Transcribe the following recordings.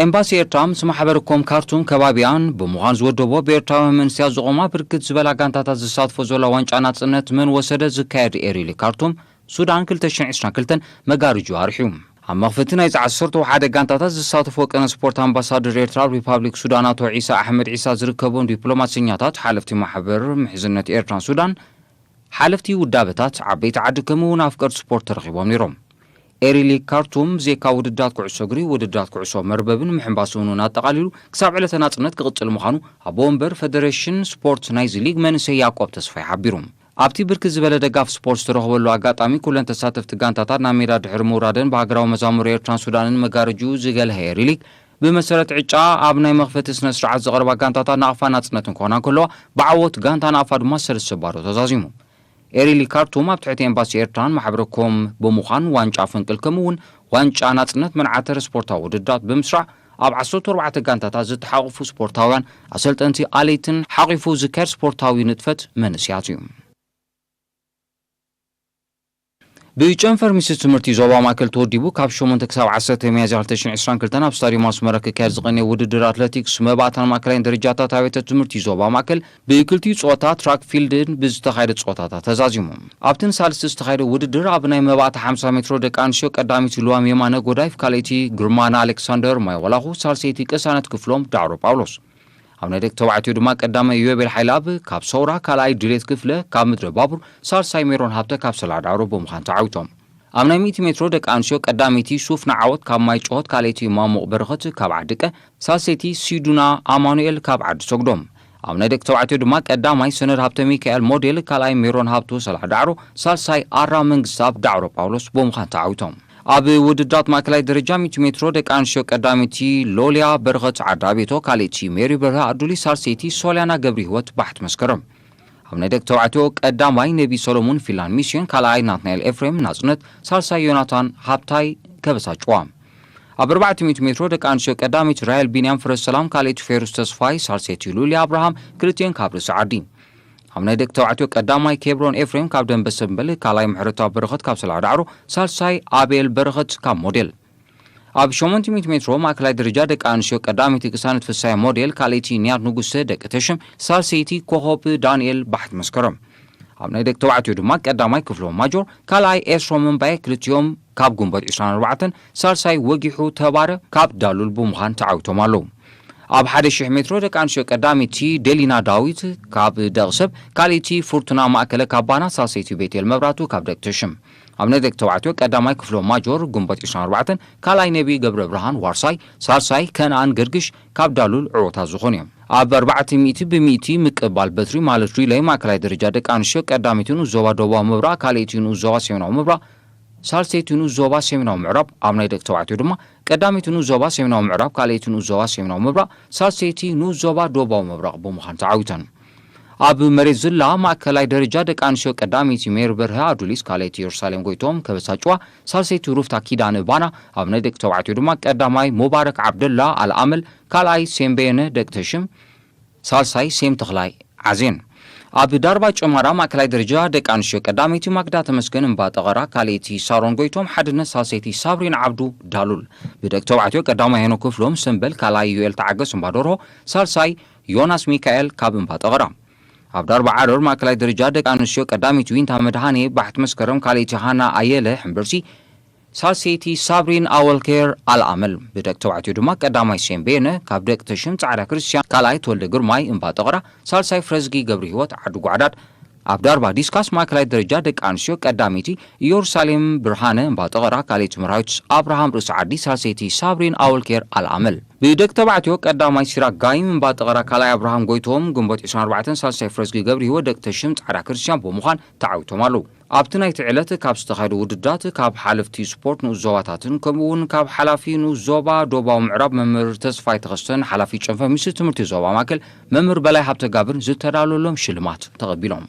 ኤምባሲ ኤርትራ ምስ ማሕበር ኮም ካርቱም ከባቢኣን ብምዃን ዝወደቦ ብኤርትራውያን መንእሰያት ዝቖማ ብርክት ዝበላ ጋንታታት ዝሳትፎ ዘላ ዋንጫ ናጽነት መን ወሰደ ዝካየድ ኤሪሊ ካርቱም ሱዳን ክልተ ሽሕን ዕስራን ክልተን መጋርጅኡ ኣርሒው ኣብ መኽፈቲ ናይዚ ዓሰርተ ወሓደ ጋንታታት ዝሳተፍ ወቅነ ስፖርት ኣምባሳደር ኤርትራ ኣብ ሪፓብሊክ ሱዳን ኣቶ ዒሳ ኣሕመድ ዒሳ ዝርከቦም ዲፕሎማሰኛታት ሓለፍቲ ማሕበር ምሕዝነት ኤርትራን ሱዳን ሓለፍቲ ውዳበታት ዓበይቲ ዓዲ ከምእውን ኣፍቀርቲ ስፖርት ተረኺቦም ነይሮም። ኤሪ ሊግ ካርቱም ብዜካ ውድድራት ኩዕሶ እግሪ፣ ውድድራት ኩዕሶ መርበብን ምሕንባስን እውን ኣጠቓሊሉ ክሳብ ዕለተ ናጽነት ክቕጽል ምዃኑ ኣቦ ወንበር ፈደረሽን ስፖርት ናይዚ ሊግ መንእሰይ ያቆብ ተስፋይ ሓቢሩ። ኣብቲ ብርክት ዝበለ ደጋፊ ስፖርት ዝተረኽበሉ ኣጋጣሚ ኩለን ተሳተፍቲ ጋንታታት ናብ ሜዳ ድሕሪ ምውራደን ብሃገራዊ መዛሙር ኤርትራን ሱዳንን መጋረጅኡ ዝገልሀ ኤሪ ሊግ ብመሰረት ዕጫኣ ኣብ ናይ መኽፈቲ ስነ ስርዓት ዘቕረባ ጋንታታት ናቕፋን ናጽነትን ክኾና እንከለዋ ብዓወት ጋንታ ናቕፋ ድማ ሰለስተ ባዶ ተዛዚሙ። ኤሪሊ ካርቱም ኣብ ትሕቲ ኤምባሲ ኤርትራን ማሕበረ ኮም ብምዃን ዋንጫ ፈንቅል ከምኡ ውን ዋንጫ ናጽነት መንዓተረ ስፖርታዊ ውድድራት ብምስራዕ ኣብ ዓሰርተው ኣርባዕተ ጋንታታት ዝተሓቑፉ ስፖርታውያን፣ ኣሰልጠንቲ፣ ኣለይትን ሓቒፉ ዝካየድ ስፖርታዊ ንጥፈት መንእስያት እዩ። ብጨንፈር ሚኒስትሪ ትምህርቲ ዞባ ማእከል ተወዲቡ ካብ ሸሞንተ ክሳብ ዓሰርተ ሚያዝያ ክልተ ሽሕ ዕስራን ክልተን ኣብ ስታድዮም ኣስመራ ክካየድ ዝቐነየ ውድድር ኣትለቲክስ መባእታን ማእከላይን ደረጃታት ኣብያተ ትምህርቲ ዞባ ማእከል ብክልቲኡ ጸወታ ትራክ ፊልድን ብዝተኻየደ ጸወታታት ተዛዚሙ። ኣብቲ ንሳልስቲ ዝተኻየደ ውድድር ኣብ ናይ መባእታ ሓምሳ ሜትሮ ደቂ ኣንስትዮ ቀዳሚቲ ልዋም የማነ ጎዳይፍ ካልኣይቲ ግርማና ኣሌክሳንደር ማይወላኹ ሳልሰይቲ ቅሳነት ክፍሎም ዳዕሮ ጳውሎስ ኣብ ናይ ደቂ ተባዕትዮ ድማ ቀዳማይ ኢዮቤል ሓይለኣብ ካብ ሰውራ፣ ካልኣይ ድሌት ክፍለ ካብ ምድረ ባቡር፣ ሳልሳይ ሜሮን ሃብተ ካብ ሰላዳሮ ብምዃን ተዓዊቶም። ኣብ ናይ ሚእቲ ሜትሮ ደቂ ኣንስትዮ ቀዳመይቲ ሱፍና ዓወት ካብ ማይ ጨሆት፣ ካልኣይቲ ማሙቕ በረኸት ካብ ዓዲቀ፣ ሳልሰይቲ ሲዱና ኣማኑኤል ካብ ዓዲ ሰጉዶም። ኣብ ናይ ደቂ ተባዕትዮ ድማ ቀዳማይ ሰነድ ሃብተሚካኤል ሞዴል፣ ካልኣይ ሜሮን ሃብቱ ሰላዳዕሮ፣ ሳልሳይ ኣራ መንግስተኣብ ዳዕሮ ጳውሎስ ብምዃን ተዓዊቶም። ኣብ ውድድራት ማእከላይ ደረጃ ሚእቲ ሜትሮ ደቂ ኣንስትዮ ቀዳመይቲ ሎልያ በረኸት ዓዳቤቶ፣ ካልእቲ ሜሪ በርሀ ኣዱሊ፣ ሳልሰይቲ ሶልያና ገብሪሂወት ባሕት መስከረም። ኣብ ናይ ደቂ ተባዕትዮ ቀዳማይ ነቢ ሰሎሙን ፊላን ሚስዮን፣ ካልኣይ ናትናኤል ኤፍሬም ናጽነት፣ ሳልሳይ ዮናታን ሃብታይ ከበሳ ጭዋ። ኣብ ኣርባዕተ ሚእቲ ሜትሮ ደቂ ኣንስትዮ ቀዳመይቲ ራሄል ቢንያም ፍረሰላም፣ ካልእቲ ፌሩስ ተስፋይ፣ ሳልሰይቲ ሉልያ ኣብርሃም፣ ክልቲኤን ካብ ርእሲ ዓዲ። ኣብ ናይ ደቂ ተባዕትዮ ቀዳማይ ኬብሮን ኤፍሬም ካብ ደምበ ሰምበል፣ ካልኣይ ምሕረታዊ በረኸት ካብ ሰላዕ ዳዕሮ፣ ሳልሳይ ኣቤል በረኸት ካብ ሞዴል። ኣብ ሸሞንት ሚእቲ ሜትሮ ማእከላይ ደረጃ ደቂ ኣንስትዮ ቀዳመይቲ ቅሳነት ፍስሃየ ሞዴል፣ ካልኣይቲ ኒያት ንጉሰ ደቂ ተሽም፣ ሳልሰይቲ ኮኾብ ዳንኤል ባሕት መስከረም። ኣብ ናይ ደቂ ተባዕትዮ ድማ ቀዳማይ ክፍሎም ማጆር፣ ካልኣይ ኤስሮም እምባየ ክልቲኦም ካብ ግንቦት ዕስራን ኣርባዕተን፣ ሳልሳይ ወጊሑ ተባረ ካብ ዳሉል ብምዃን ተዓዊቶም ኣለዉ። ኣብ ሓደ ሽሕ ሜትሮ ደቂ ኣንስትዮ ቀዳመይቲ ደሊና ዳዊት ካብ ደቒ ሰብ፣ ካልኣይቲ ፉርቱና ማእከለ ካብ ባና፣ ሳልሰይቲ ቤቴል መብራህቱ ካብ ደቂ ተሽም። ኣብነት ደቂ ተባዕትዮ ቀዳማይ ክፍሎም ማጆር፣ ግንቦት ዕስራን ኣርባዕተን፣ ካልኣይ ነብዪ ገብረብርሃን፣ ዋርሳይ፣ ሳልሳይ ከነኣን ገርግሽ ካብ ዳሉል ዕወታት ዝኾኑ እዮም። ኣብ ኣርባዕተ ሚእቲ ብሚእቲ ምቅባል በትሪ ማለት ሪለይ ማእከላይ ደረጃ ደቂ ኣንስትዮ ቀዳመይቲ ንኡስ ዞባ ደቡባዊ ምብራቕ፣ ካልኣይቲ ንኡስ ዞባ ሰሜናዊ ምብራቕ፣ ሳልሰይቲ ንኡስ ዞባ ሰሜናዊ ምዕራብ፣ ኣብ ናይ ደቂ ተባዕትዮ ድማ፣ ቀዳመይቲ ንኡስ ዞባ ሰሜናዊ ምዕራብ፣ ካልኣይቲ ንኡስ ዞባ ሰሜናዊ ምብራቕ፣ ሳልሰይቲ ንኡስ ዞባ ደቡባዊ ምብራቕ ብምዃን ተዓዊተን። ኣብ መሬት ዝላ ማእከላይ ደረጃ፣ ደቂ ኣንስትዮ ቀዳመይቲ ሜሪ በርሀ ኣዱሊስ፣ ካልኣይቲ የሩሳሌም ጎይትኦም ከበሳጭዋ፣ ሳልሰይቲ ሩፍታ ኪዳነ ባና፣ ኣብ ናይ ደቂ ተባዕትዮ ድማ ቀዳማይ ሙባረክ ዓብደላ ኣልኣመል፣ ካልኣይ ሴም በየነ ደቂ ተሽም፣ ሳልሳይ ሴም ተኽላይ ዓዜን ኣብ ዳርባ ጨማዳ ማእከላይ ደረጃ ደቂ ኣንስትዮ ቀዳመይቲ ማክዳ ተመስገን እምባ ጠቐራ ካልኣይቲ ሳሮን ጎይቶም ሓድነት ሳልሰይቲ ሳብሪና ዓብዱ ዳሉል ብደቂ ተባዕትዮ ቀዳማይ ሄኖክ ክፍሎም ሰምበል ካልኣይ ዩኤል ተዓገስ እምባ ደርሆ ሳልሳይ ዮናስ ሚካኤል ካብ እምባ ጠቐራ ኣብ ዳርባ ዓረር ማእከላይ ደረጃ ደቂ ኣንስትዮ ቀዳመይቲ ዊንታ መድሃኔ ባሕቲ መስከረም ካልኣይቲ ሃና ኣየለ ሕምብርቲ ሳልሰይቲ ሳብሪን ኣወል ከይር ኣልኣመል፣ ብደቂ ተባዕትዮ ድማ ቀዳማይ ሴም በየነ፣ ካብ ደቂ ተሽም ጻዕዳ ክርስትያን፣ ካልኣይ ተወልደ ግርማይ፣ እምባ ጠቕራ፣ ሳልሳይ ፍረዝጊ ገብርሂወት፣ ዓዲ ጓዕዳድ፣ ኣብ ዳርባ ዲስካስ ማእከላይ ደረጃ ደቂ ኣንስትዮ፣ ቀዳመይቲ ኢዮሩሳሌም ብርሃነ፣ እምባ ጠቕራ፣ ካልኣይቲ መርሃዊት ኣብርሃም፣ ርእሲ ዓዲ፣ ሳልሰይቲ ሳብሪን ኣወል ከይር ኣልኣመል። ብደቂ ተባዕትዮ ቀዳማይ ሲራክ ጋይም፣ እምባ ጠቕራ፣ ካልኣይ ኣብርሃም ጎይትኦም፣ ግንቦት ዕስራን ኣርባዕተን፣ ሳልሳይ ፍረዝጊ ገብርሂወት፣ ደቂ ተሽም ጻዕዳ ክርስትያን፣ ብምዃን ተዓዊቶም ኣለዉ። ኣብቲ ናይቲ ዕለት ካብ ዝተኻየዱ ውድድራት ካብ ሓለፍቲ ስፖርት ንኡስ ዞባታትን ከምኡ እውን ካብ ሓላፊ ንኡስ ዞባ ዶባዊ ምዕራብ መምህር ተስፋይ ተኸስተን ሓላፊ ጨንፈር ሚኒስትሪ ትምህርቲ ዞባ ማእከል መምህር በላይ ሃብተጋብርን ዝተዳለወሎም ሽልማት ተቐቢሎም።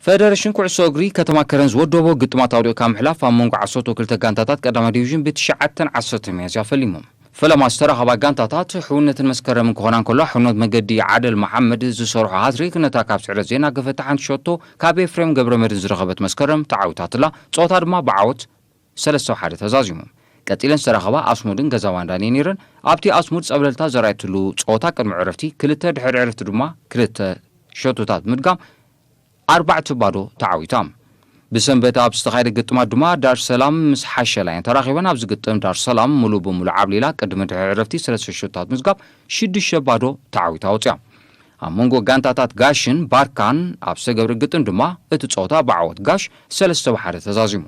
ፈደረሽን ኩዕሶ እግሪ ከተማ ከረን ዝወደቦ ግጥማት ኣውዲቕካ ምሕላፍ ኣብ መንጎ ዓሰርተው ክልተ ጋንታታት ቀዳማይ ዲቪዥን ብ ትሽዓተን ዓሰርተን ሚያዝያ ፈሊሞም። ፈለማ ዝተረኸባ ጋንታታት ሕውነትን መስከረምን ክኾና እንከለዋ፣ ሕውነት መገዲ ዓደል መሓመድ ዝሰርሖ ሃትሪክ ነታ ካብ ስዕረት ዘይናገፈት ሓንቲ ሸቶ ካብ ኤፍሬም ገብረመድህን ዝረኸበት መስከረም ተዓዊታትላ። ጸወታ ድማ ብዓወት ሰለስተ ብ ሓደ ተዛዚሙ። ቀጺለን ዝተረኸባ ኣስሙድን ገዛባንዳን እየን ነይረን። ኣብቲ ኣስሙድ ጸብለልታ ዘርኣየትሉ ጸወታ ቅድሚ ዕረፍቲ ክልተ ድሕሪ ዕረፍቲ ድማ ክልተ ሸቶታት ብምድጋም፣ ኣርባዕተ ባዶ ተዓዊታ። ብሰንበት ኣብ ዝተኻየደ ግጥማት ድማ ዳርሰላም ምስ ሓሸላ እየን ተራኺበን። ኣብዚ ግጥም ዳርሰላም ምሉእ ብምሉእ ዓብሊላ ቅድሚ ድሕሪ ዕረፍቲ ስለስተ ሸቶታት ምዝጋብ ሽዱሽተ ባዶ ተዓዊታ ወጺኣ። ኣብ መንጎ ጋንታታት ጋሽን ባርካን ኣብ ዝተገብረ ግጥም ድማ እቲ ጸወታ ብዓወት ጋሽ ሰለስተ ብ ሓደ ተዛዚሙ።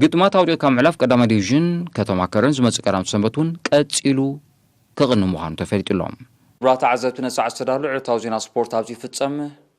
ግጥማት ኣውዲቕካ ምሕላፍ ቀዳማይ ዲቪዥን ከተማ ከረን ዝመጽእ ቀዳምቲ ሰንበት እውን ቀጺሉ ክቕንይ ምዃኑ ተፈሊጡ'ሎ። ክቡራት ተዓዘብቲ ነዚ ሰዓት ዝተዳሎ ዕለታዊ ዜና ስፖርት ኣብዚ ይፍጸም።